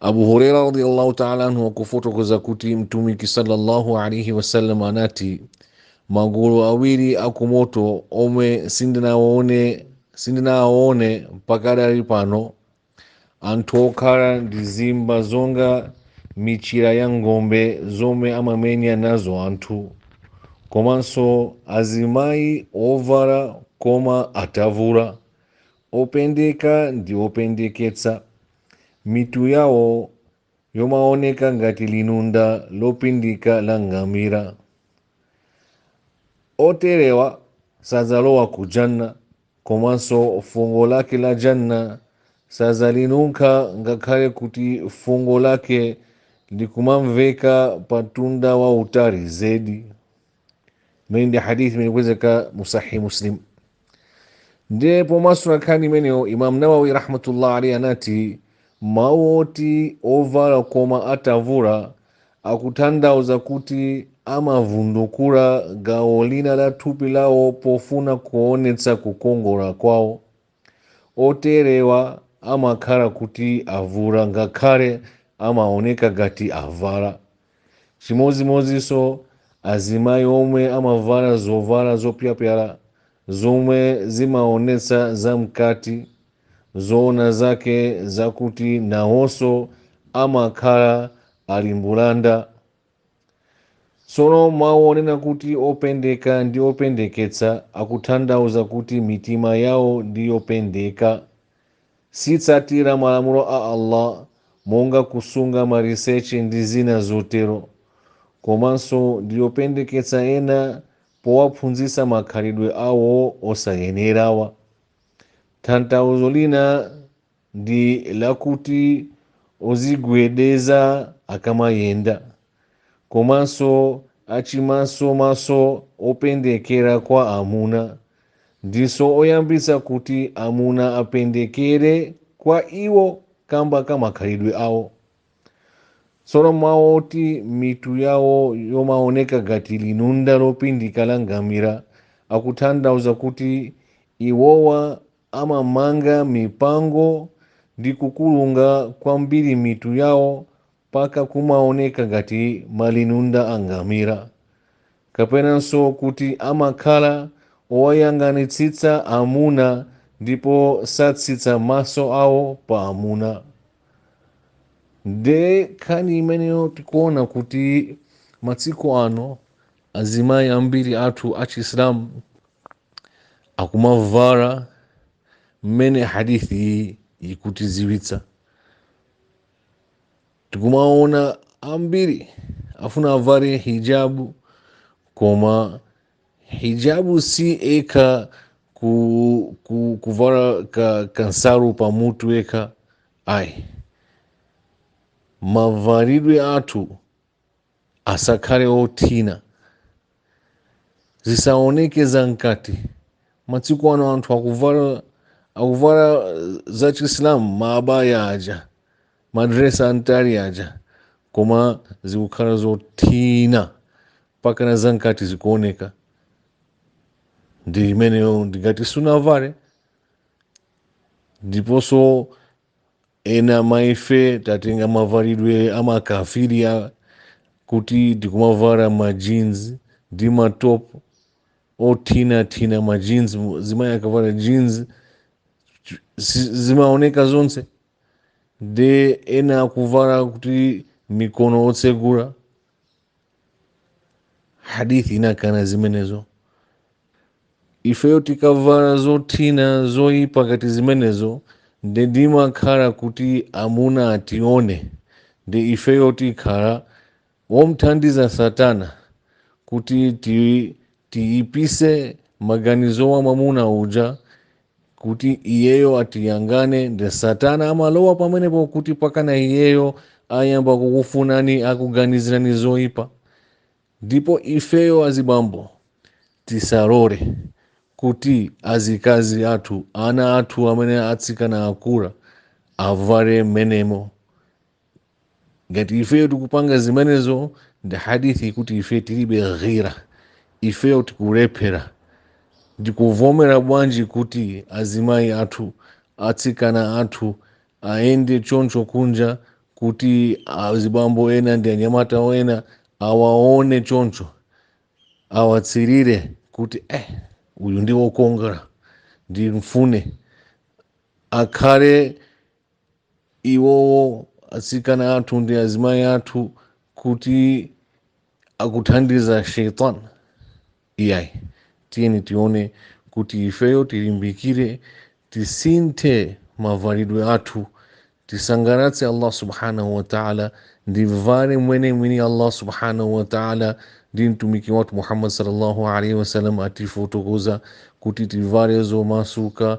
Abu Huraira radhiallahu taala anhu akufotokoza kuti Mtumiki sallallahu alaihi wasallam anati magulu awiri akumoto omwe sindinawaone mpaka pakadali pano anthu okhala ndi zimba zonga michira ya ng'ombe zomwe amamenya nazo anthu komanso azimayi ovala koma atavula Opendeka ndi opendeketsa mitu yawo yomaoneka ngati linunda lopindika la ngamira. Oterewa sadzalowa ku Jannah komanso fungo lake la Jannah sadzalinunkha ngakhale kuti fungo lake likumamveka pa mtunda wautali zedi. imene ndi hadith imene ikupezeka mu sahih muslim ndiye pomasula nkhani imeneyo imam nawawi rahmatullah alaihi anati mawu oti ovala koma atavula akutanthauza kuti amavundukula gawo lina la thupi lawo pofuna kuonetsa kukongola kwawo Oterewa amakhala kuti avula ngakhale amaoneka ngati avala. Chimodzimodzinso azimayi omwe amavala zovala zopyapyala zomwe zimaonetsa zamkati. Zoona zake n'zakuti nawonso amakhala ali mbulanda. tsono mawu onena kuti opendeka ndi opendeketsa akutanthauza kuti mitima yawo ndi yopendeka sitsatira malamulo a allah monga kusunga maliseche ndi zina zotero komanso ndi yopendeketsa ena powaphunzitsa makhalidwe awo osayenerawa tanthauzo lina ndi lakuti odzigwedeza akamayenda komanso achimasomaso opendekera kwa amuna ndiso oyambitsa kuti amuna apendekere kwa iwo kamba ka makhalidwe awo tsono mawu oti mitu yawo yomaoneka ngati linunda lopindika la ngamira akutanthauza kuti iwowa Amamanga mipango ndi kukulunga kwambiri mitu yawo mpaka kumaoneka ngati malinunda a ngamira. Kapenanso kuti amakhala owayang'anitsitsa amuna ndipo satsitsa maso awo pa amuna. Ndiye nkhani imeneyo tikuona kuti masiku ano azimayi ambiri athu achisilamu akumavala mmene hadithi iyi ikutiziwitsa tikumaona ambiri afuna avale hijabu koma hijabu si eka ku, ku, kuvala ka, kansalu pa mutu eka ayi mavalidwe athu asakhale othina zisaoneke za mkati matsiku ano anthu akuvala akuvala za chisilamu maabaya aja madresi antali aja koma zikukhala zothina mpakana za mkati zikuoneka nde imeneyo ndi ngati sunavale ndiponso Ena ma ife tatenga mavalidwe a makafiri a kuti tikumavala ma jeans ndi ma top othinathina ma jeans zimayi akavala jeans ch- si- zimaoneka zonse nde ena akuvala kuti mikono otsegula hadithi inakana zimenezo ifeyo tikavala zothina zoyipa ngati zimenezo nde timakhala kuti amuna atione nde ifeyo tikhala omthandiza satana kuti ti Tiyipise maganizo a mwamuna uja kuti iyeyo atiyangane nde satana amalowa pamenepo kuti mpakana iyeyo ayamba kukufunani akuganizirani zoipa ndipo ifeyo azibambo tisarore kuti azikazi athu ana athu amene atsikana akura avare mmenemo ngati ifeyo tikupanga zimenezo nde hadithi ikuti ife tilibe ghira ifeyo tikulephera tikuvomera bwanji kuti azimayi athu atsikana athu ayende choncho kunja kuti azibambo ena ndi anyamata ena awaone choncho awasirire kuti eh uyu ndi wokongola ndimfune akhale iwowo atsikana athu ndi azimayi athu kuti akuthandiza shaitan iyayi tiyeni tione kuti ifeyo tilimbikire tisinthe mavalidwe athu tisangalatse allah subhanahu wataala tivale mmene mwini allah subhanahu wataala ndi mtumiki wathu muhammad sallallahu alaihi wasallam atifotokozera kuti tivale zomasuka